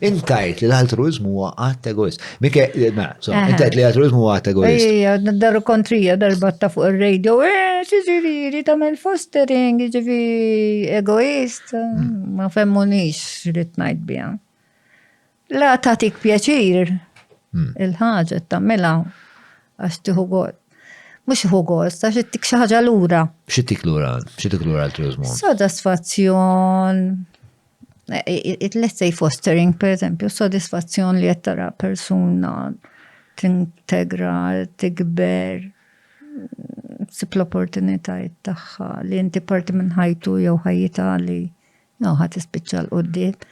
Int tajt li l-altruizmu huwa għat egoist. Mikke, mela, so, int tajt li l-altruizmu huwa għat egoist. Ejja, daru kontrija darba ta' fuq il-radio, eh, ġiġiriri, tamel fostering, ġivi egoist, hmm. ma femmu nix li t-najt bija. La tatik pjaċir, hmm. il-ħagġa tamela, għax tiħu għod. Mux hu għost, għax t-tik xaħġa l-ura. Xittik l-ura, xittik l-ura l-turizmu. Sodasfazzjon, let's say fostering, per eżempju, sodisfazzjon li qed tara persuna tintegra, tikber, sib l-opportunitajiet tagħha li inti parti minn ħajtu jew ħajjita li jew ħadd ispiċċa l qudiem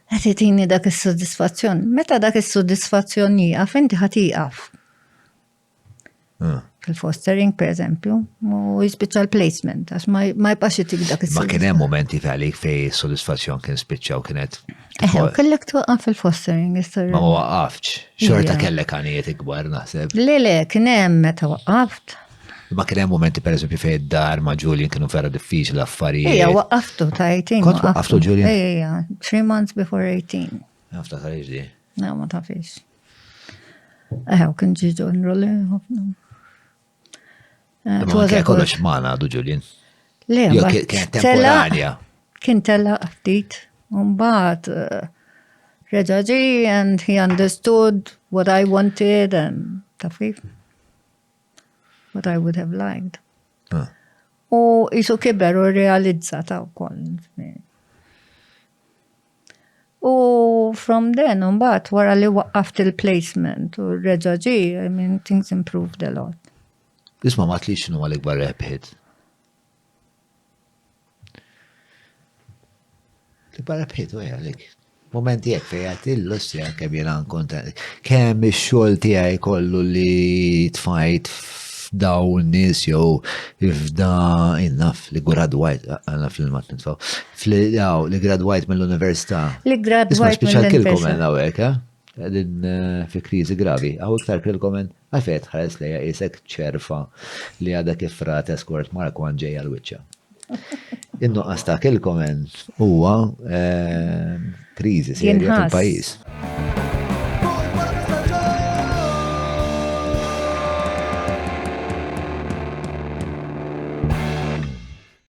Qed itini dak is-sodisfazzjon. Meta dak is-sodisfazzjon jieqaf, inti ħadd iqaf. fil-fostering per eżempju, u jispiċċa l-placement, għax ma jibqax jitik dak il Ma kien hemm momenti għalik fej soddisfazzjon kien spiċċa u kienet. Eħe, u kellek twaqqaf fil-fostering, jistar. Ma waqqafx, xorta kellek għanijiet ikbar naħseb. Le, le, kien hemm meta waqqaft. Ma kien hemm momenti per eżempju fej id-dar ma' Julian kienu vera diffiċli l-affarijiet. Ejja, waqqaftu ta' 18. Kont waqqaftu Julian? Ejja, 3 months before 18. Naftakar iġdi. No, ma tafix. Eħe, u kien ġi ġonru li ħafna. Eh, Kien kollox maħna għadu Ġulien. Le, kien temporanja. Kien tella ftit, un bat eh, reġaġi and he understood what I wanted and tafif. What I would have liked. Ah. U jisu kiber u realizza ta' u koll. U from then, mbagħad wara li waqqaft il-placement u reġa' ġi, I mean, things improved a lot. Isma' ma tlix x'inhu l-ikbar rebħiet. L-ikbar rebħiet u għalik. Momenti jek fejat il-lustrija kemm jena nkonta. Kemm ix-xogħol tiegħi kollu li tfajt f'daw nis jew f'da innaf li gradwajt għanna fil-mat nitfaw. Fli, jaw, li gradwajt mill-università. Li gradwajt mill-università. Isma, speċjal kilkom għen għawek, eh? Għedin eh, fi krizi gravi. Għaw iktar kilkom għen għafet ħares li jisek ċerfa li għada kif rata skort Mark għan ġej għal-wicċa. Innu għasta kilkom għen huwa eh, krizi serja fil-pajis.